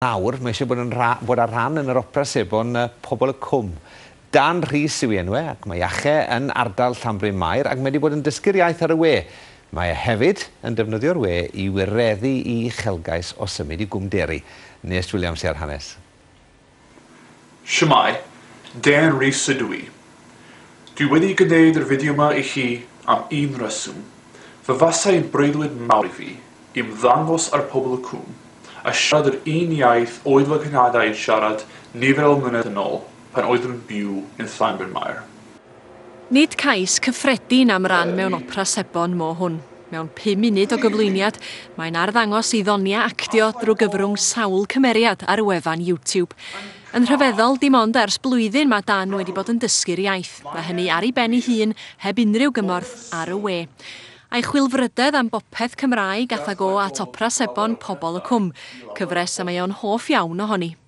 Nawr, mae eisiau bod yn rha- bod ar rhan yn yr Opera Sebon y Pobl y Cwm. Dan Rhys yw ei enw e, ac mae Iache yn ardal Llanbryn Mair, ac mae wedi bod yn dysgu'r iaith ar y we. Mae e hefyd yn defnyddio'r we i wireddu i uchelgais o symud i Gwm Deri. Nes Williams sy ar hanes. Shwmae, Darren Rees ydw i. Dwi wedi gwneud yr fideo ma i chi am un reswm. Fe fasai yn breuddwyd mawr i fi ymddangos ar Pobl y Cwm a siarad yr un iaith oedd fy nghynadau yn siarad nifer o flynedd yn ol pan oeddwn yn byw yn Llanbrynmair. Nid cais cyffredin am ran mewn opera sebon mo hwn. Mewn pum munud o gyflwyniad, mae'n arddangos ei ddoniau actio drwy gyfrwng sawl cymeriad ar wefan YouTube. Yn rhyfeddol, dim ond ers blwyddyn mae Dan wedi bod yn dysgu'r iaith, a hynny ar ei ben ei hun, heb unrhyw gymorth ar y we. A'i chwilfrydedd am bopeth Cymraeg athag o at opera sebon Pobol y Cwm, cyfres y mae o'n hoff iawn ohoni.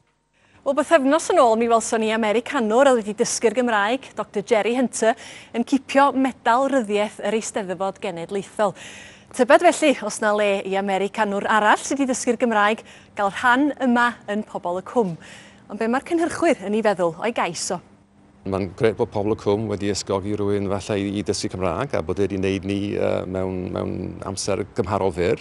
Wel, bythefnos yn ôl mi welson ni Americanwr oedd wedi dysgu'r Gymraeg, Doctor Jerry Hunter, yn cipio medal ryddiaith yr Eisteddfod Genedlaethol. Tybed felly os na le i Americanwr arall sydd wedi dysgu'r Gymraeg gael rhan yma yn Pobol y Cwm. Ond be mae'r cynhyrchwyr yn ei feddwl o'i gais o? Mae'n grêt bod Pobl y Cwm wedi ysgogi rhywun falle i, i dysgu Cymraeg a bod e wedi wneud ni uh, mewn, mewn amser gymharol fyr.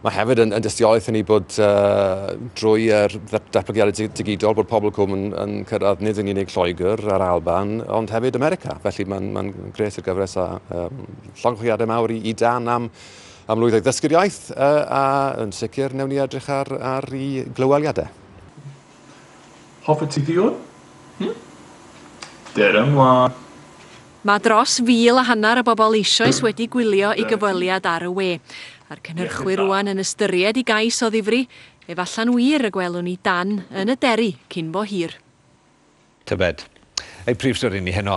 Mae hefyd yn, yn dystiolaeth i ni bod uh, drwy er datblygiadau digidol bod Pobl y Cwm yn, yn cyrraedd nid yn unig Lloegr a'r Alban ond hefyd America. Felly mae'n mae grêt i'r gyfres a um, llongychwiadau mawr i, i dan am am lwyddo i ddysgu'r iaith uh, a yn sicr newn ni edrych ar, ar ei glyweliadau. Hoffet ti ddiod? Hm? Dere mlaen. Mae dros fil a hanner o bobl eisoes wedi gwylio i gyfweliad ar y we, a'r cynhyrchwyr rŵan yn ystyried i gais o ddifri, efallai'n wir y gwelwn ni Dan yn y Deri cyn bo hir. Tybed. Ei phrif stori ni heno.